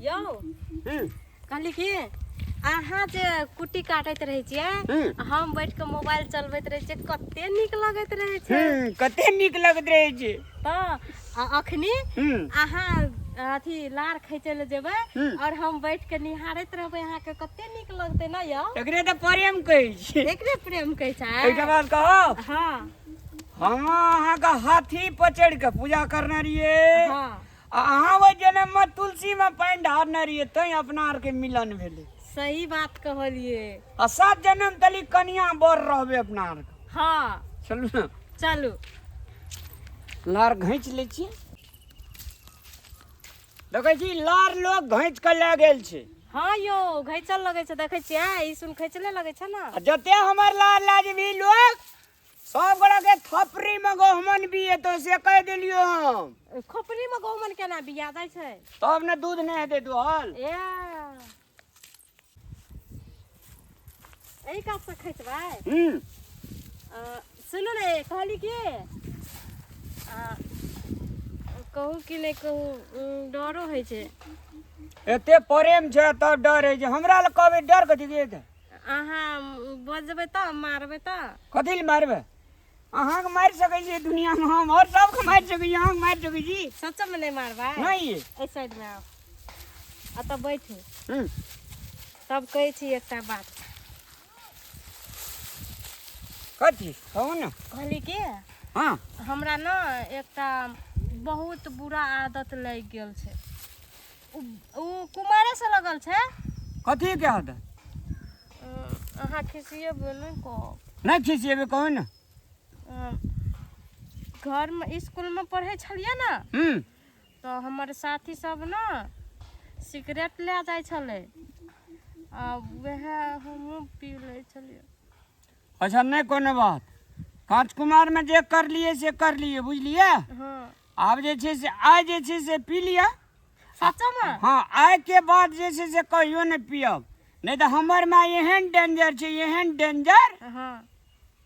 यौ हम्म, कहली कि अहाँ जे कुट्टी काटैत रहै छियै हम्म। हम बैठ के मोबाइल चलबैत रहै छियै कते नीक लगैत रहै छै हम्म, कते नीक लगैत रहै छै तऽ आ अखनी हम्म, अहाँ अथी लार खींचे ले जेबै हम्म। और हम बैठ के निहारैत रहबै अहाँ के कते नीक लगते ना यौ एकरे तऽ प्रेम कहै छै एकरे प्रेम कहै छै एकटा बात कहब हाँ हम अहाँके हाथी पर चढ़ि कऽ पूजा करने रहियै हाँ आ अहाँ ओहि जन्म में तुलसी में पानि ढारने रहिए तैं अपना आर के मिलन भेले सही बात कहलिए आ सात जन्म तली कनिया बर रहबे अपना आर के हाँ चलू ने चलू लार घैंच ले छी देखे छी लार लोग घैंच के ले गेल छै हाँ यो घैचल लगे छै देखे छियै ई सुन खैचले लगे छै ना आ जते हमर लार लाजबी लोग सब गोड़ा के थपरी में गहमन भी है तो से कह दिलियो हम खोपड़ी में गहुमन केना बिया जाइ छै तब ने दूध नहीं हेते दुहल ए एहि काज से खैतबै हम्म अ, सुनू ने कहली कि अ, कहू कि नहि कहू उम, डरो होइ छै एते प्रेम छै तब डर है जे हमरा लग कहबे डर कथी के हेतै अहाँ बजबै तऽ मारबै तऽ कथी लए मारबै अहाँके मारि सकै छियै दुनियामे हम आओर सबके मारि सकै छी अहाँके मारि सकै छी सचमे नहि मारबै नहि एहि साइडमे आउ एतऽ बैठू हूँ तब कहै छी एकटा बात कथी कहू ने कहली कि हँ हमरा ने एकटा बहुत बुरा आदत लागि गेल छै उ कुमारे से लगल छै कथी के हद अहाँ खिसिए बोलू को नहीं खिसिएबे कहो ना घर में स्कूल में पढ़े छलिए ना हम्म तो हमर साथी सब ना सिगरेट ले जाए छले आ वह हम पी ले छलिए अच्छा नहि कोनो बात काँच कुमारमे जे करलियै से करलियै बुझलियै हँ आब जे छै से आइ जे छै से पी लिअ सचमे हँ आइके बाद जे छै से कहियो नहि पियब नहि तऽ हमर माँ एहन डेंजर छै एहन डेंजर हँ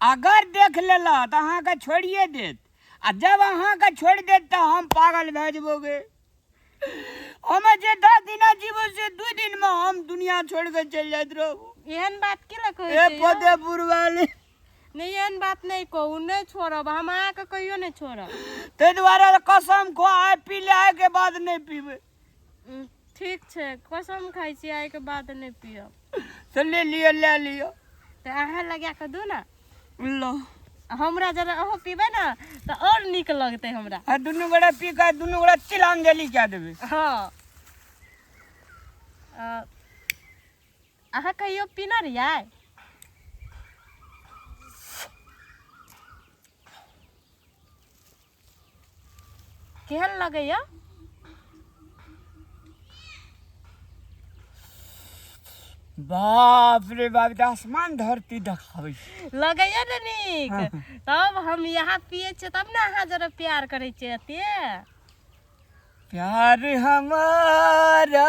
अगर देख लेला तऽ अहाँके छोड़िए देत आ जब अहाँके छोड़ि देत तऽ हम पागल भए जेबोगे हम जे दस दिन जीव से दू दिन में हम दुनिया छोड़ के चल जात रहू एहन बात की लग कहै ए छी यौ? पदे बुरवाले नहि एहन बात नहि कहू नहि छोड़ब हम अहाँके कहियो नहि छोड़ब ताहि दुआरे कसम खो आइ पी ले आइ के बाद नहीं पीबे उम, ठीक छै कसम खाइ छी आइके बाद नहि पियब से ले लियो ले लियो तऽ अहाँ लगा कऽ दू ने लो हमरा जरा अहो पीबे ना तो और निक लगते हमरा आ दुनू गोड़ा पी के दुनू गोड़ा तिलांजलि कए देबै हाँ अ, अहाँ कहियो पीना रहियै केहन लगैया बाप रे बाप ई तऽ आसमान धरती देखाबै छै लगैया ने नीक तब हम यहाँ पिए छियै तब ने अहाँ जरा प्यार करै छियै एते प्यार हमारा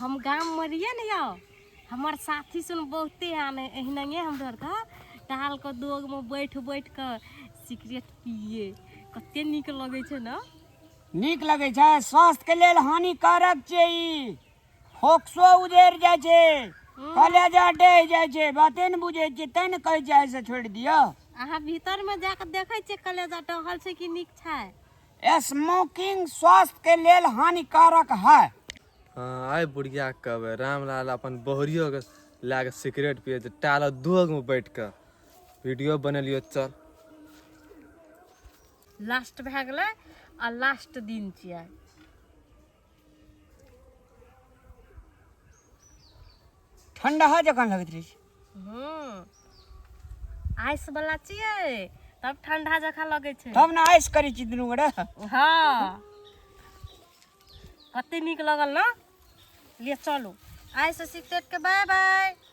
हम गाम में रहिए ने यौ हमर साथी सुन बहुते आने एहने हमरो आरके टहलके दोगमे बैठ बैठ के सिगरेट पिए कते नीक लगै छै ने नीक लगै छै स्वास्थ्य के लेल हानिकारक छै ई फोक्सो उधेर जाइ छै कलेजा डहि जाइ छै बाते ने बुझै छियै तैं ने कहै छियै आइसँ छोड़ि दिअ अहाँ भीतरमे जा कऽ देखै छियै कलेजा टहल छै कि नीक छै स्मोकिंग स्वास्थ्य के लेल हानिकारक है हाँ, आइ बुढ़िया कहबै रामलाल अपन बहुरियो के लए कऽ सिगरेट पिए छै टाल दोग में बैठ कऽ वीडियो बनेलियो चल लास्ट भए गेलै आ लास्ट दिन छियै ठंडा जकाँ लगैत रहै छै हूँ आइस वाला छियै तब ठंडा जकाँ लगै छै तब ने आइस करै छी दुनू गोरे हाँ कते नीक लगल ना ले चलू आइस सिक्रेट के बाय बाय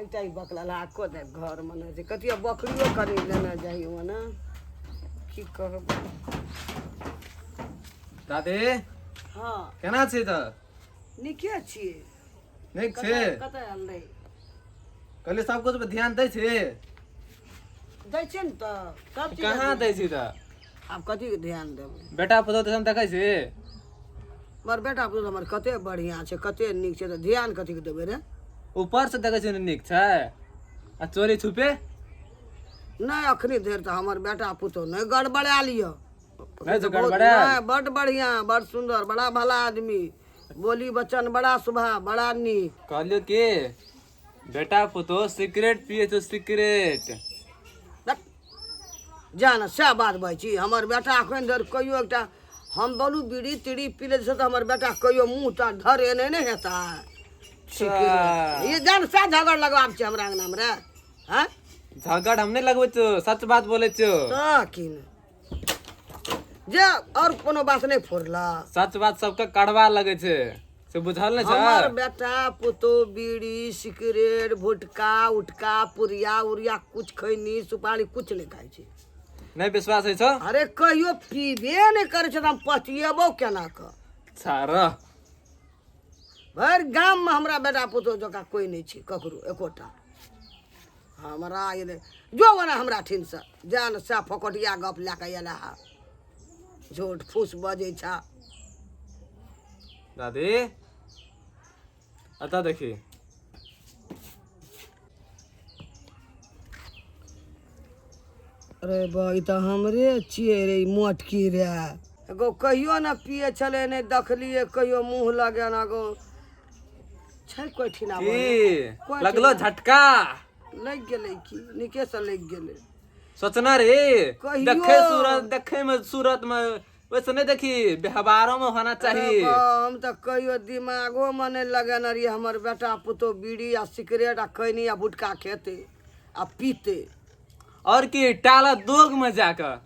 एकटा ई बकला लाको दे घर में ना जे कतिया बकरियो करी लेना जाई हो ना की कहब दादी हां केना छी त निके छी नीक छी कत आल रे कहले सब कुछ पे ध्यान दै छी दै छी न त सब चीज कहाँ दै छी त आब कथी के ध्यान देबै बेटा पुतहु तऽ देखै छी हमर बेटा पुतहु हमर कते बढ़िया छै कते नीक छै तऽ ध्यान कथी के देबै रे ऊपर से देखै छी नीक छै आ चोरी छुपे नहि अखनी धरि तऽ हमर बेटा पुतहु नहि गड़बड़ा लिअ नहि तऽ गड़बड़ा बड बढ़िया बड़ सुंदर बड़ा भला आदमी बोली बचन बड़ा सुभा बड़ा नीक कहलियो की बेटा पुतो सिगरेट पिए छौ सिगरेट जान सएह बात भाइ छी हमर बेटा एखन धरि कहियो एकटा हम बोलू बीड़ी तीड़ी पी लै तऽ हमर बेटा कहियो मुँह टा धरे नहि ने हेता ई जान सएह झगड़ लगबाब छै हमरा अंगनामे रे हँ झगड़ हम नहि लगबै छौ सच बात बोलै छौ तऽ की ने जे और कोनो बात नहीं फोड़ला सच बात सबके कड़वा लगे छे से बुझल नहीं हमर बेटा पुतो बीड़ी सिगरेट भुटका उटका पुरिया उरिया कुछ खैनी सुपारी कुछ नहीं खाई छी नहीं विश्वास है छो अरे कहियो पीबे नहीं करे छे हम पचिएबो केना क सारा भर गाम में हमरा बेटा पुतो जका कोई नहीं छी ककरो एकोटा हमरा एलै जो ओना हमरा ठिनसँ जाए ने सएह फोकटिया गप लए कऽ एला हा झूठ फूस बजै छा दादी अतऽ देखी अरे बा ई तऽ हमरे छियै रे ई मोटकी रे एगो कहियो ने पिए छलै नहि देखलियै कहियो मुँह लगेना गो छै कोइ ठिना की लगलो झटका लागि गेलै की नीके से लागि गेलै सोचना रे कहियो। देखे सूरत देखे में सूरत में वैसे नहीं देखी व्यवहारों में होना चाहिए अरे बा, हम तऽ कहियो दिमागो में नहि लगेने रहियै हमर बेटा पुतहु बीड़ी आ सिगरेट आ खैनी आ गुटखा खेतै आ पीतै और की टाला दोग में जाकर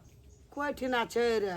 कोइ ठिना छै रे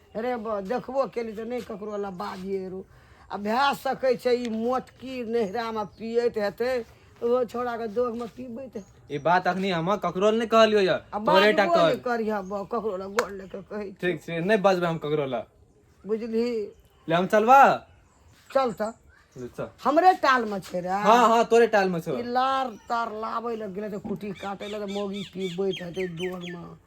अरे बा देखबो केली तऽ नहि ककरो लए बाजिए रो आ भए सकै छै ई मोटकी नैहरामे पियैत हेतै ओहो छौड़ाके दोगमे पीबैत हेतै ई बात अखनी हम ककरो लए नहि कहलियो या आ तोरे टा बाजबो कहल नहि करिहऽ बा ककरो लए गोड़ लए कऽ कहै छै ठीक छै नहि बजबै हम ककरो लए बुझली ले हम चलबा चल तऽ ले चल हमरे टालमे छै रे हाँ हाँ तोरे टाल में छो ई लार तार लाबै लए गेलै तऽ कुटी काटै लए तऽ मौगी पीबैत हेतै दोगमे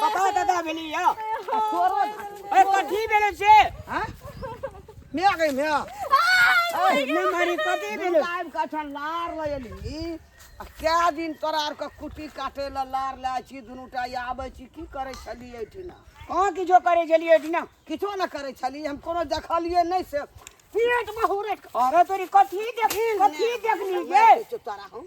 बताओ दादा भेली या अरे कथी भेले से हां मैं आ गई मैं अरे मैं मारी कथी भेले टाइम का छ लार लयली आ क्या दिन तोरा आर के कुटी काटे ल लार ला छी दुनु टा आबै छी की करे छलिए ठिना हां किछो करे छलिए ठिना किछो न करे छलिए हम कोनो देखलिए नहीं से पेट में हुरट अरे तोरी कथी देख कथी देखली गे तोरा हम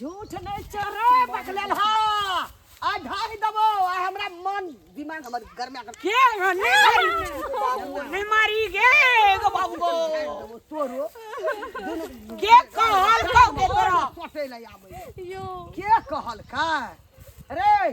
झूठ नहीं चोरे बकलेल हा आ ढाक दबो आ हमरा मन दिमाग हमर घर में आकर के नहीं मारी नहीं मारी गे गो बाबू गो दबो तोरो दोनों के कहल कौ के तोरा पटे ले आबे यो के कहल का रे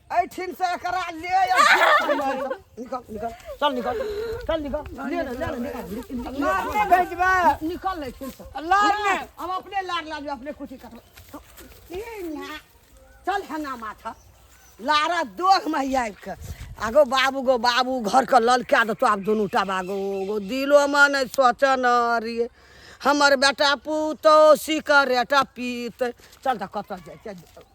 ऐठिन से एकरा ले या निकल निकल चल निकल चल निकल ले ले ले निकल लार में भेजबा निकल ले ऐठिन से लार में हम अपने लार लाज अपने कुछ कट चल हना माथा लारा दोग में आबि के आगो बाबू गो बाबू घर के ललका देतो आब दुनू टा बागो गो दिलो में नहि सोचऽ न रिये हमर बेटा पुतौ सिकरेटा पीत चल तऽ कतऽ जाइ छै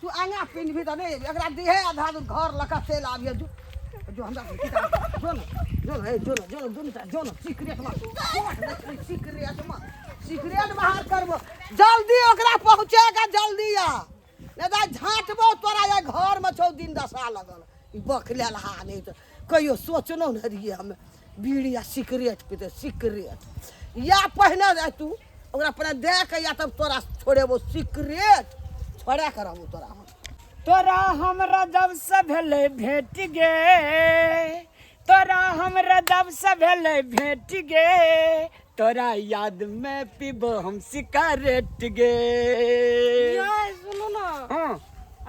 तू आगा पिन भी तने एकरा दिहे आधा दूर घर लका चल आबिए जो जो हमरा किताब जो न जो न जो न जो न दुनु टा जो न सीक्रेट मा सीक्रेट मा सीक्रेट बाहर करबो जल्दी ओकरा पहुंचेगा जल्दी आ नहीं तो झांटबो तोरा ये घर में छौ दिन दशा लगल बक लेल हा नहि तऽ कहियो सोचलहुँ ने रहियै हमे बीड़ी आ सिगरेट पीते सिगरेट या पहिने रह तू ओकरा पहिने दे के या तब तोरा छोड़ेबो सिगरेट छोड़ा के रहबो तोरा हम तोरा हमरा जब से भेले भेट गे तोरा हमरा जब से भेले भेट गे तोरा याद में पीबो हम सिगारेट गे यार सुनू ना हाँ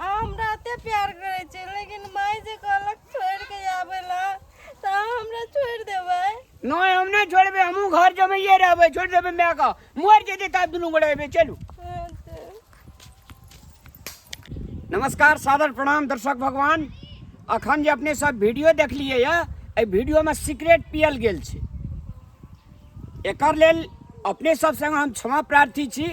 हम रहते प्यार करे छे लेकिन माय जे कहलक छोड़ के आवे ला त हमरा छोड़ देबे नहीं हम नहीं छोड़बे हमू घर जमे ये रहबे छोड़ देबे मैं का मर जेते ता दुनू गोड़े चलू नमस्कार सादर प्रणाम दर्शक भगवान अखन जे अपने सब वीडियो देखलिए यऽ एहि वीडियोमे सिगरेट पियल गेल छै एकर लेल अपने सब संग हम क्षमा प्रार्थी छी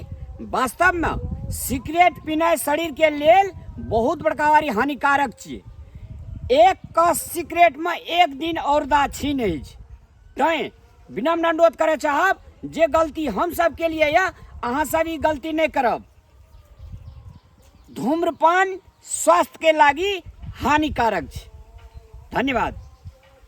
वास्तवमे सिगरेट पीनाइ शरीरके लेल बहुत बड़का वारी हानिकारक छियै एक कस सिगरेटमे एक दिन औरदा छीन अछि तैं विनम्र अनुरोध करय चाहब जे गलती हम सब के लिए या अहाँ सब ई गलती नहीं करब धूम्रपान स्वास्थ्य के लागी हानिकारक छै धन्यवाद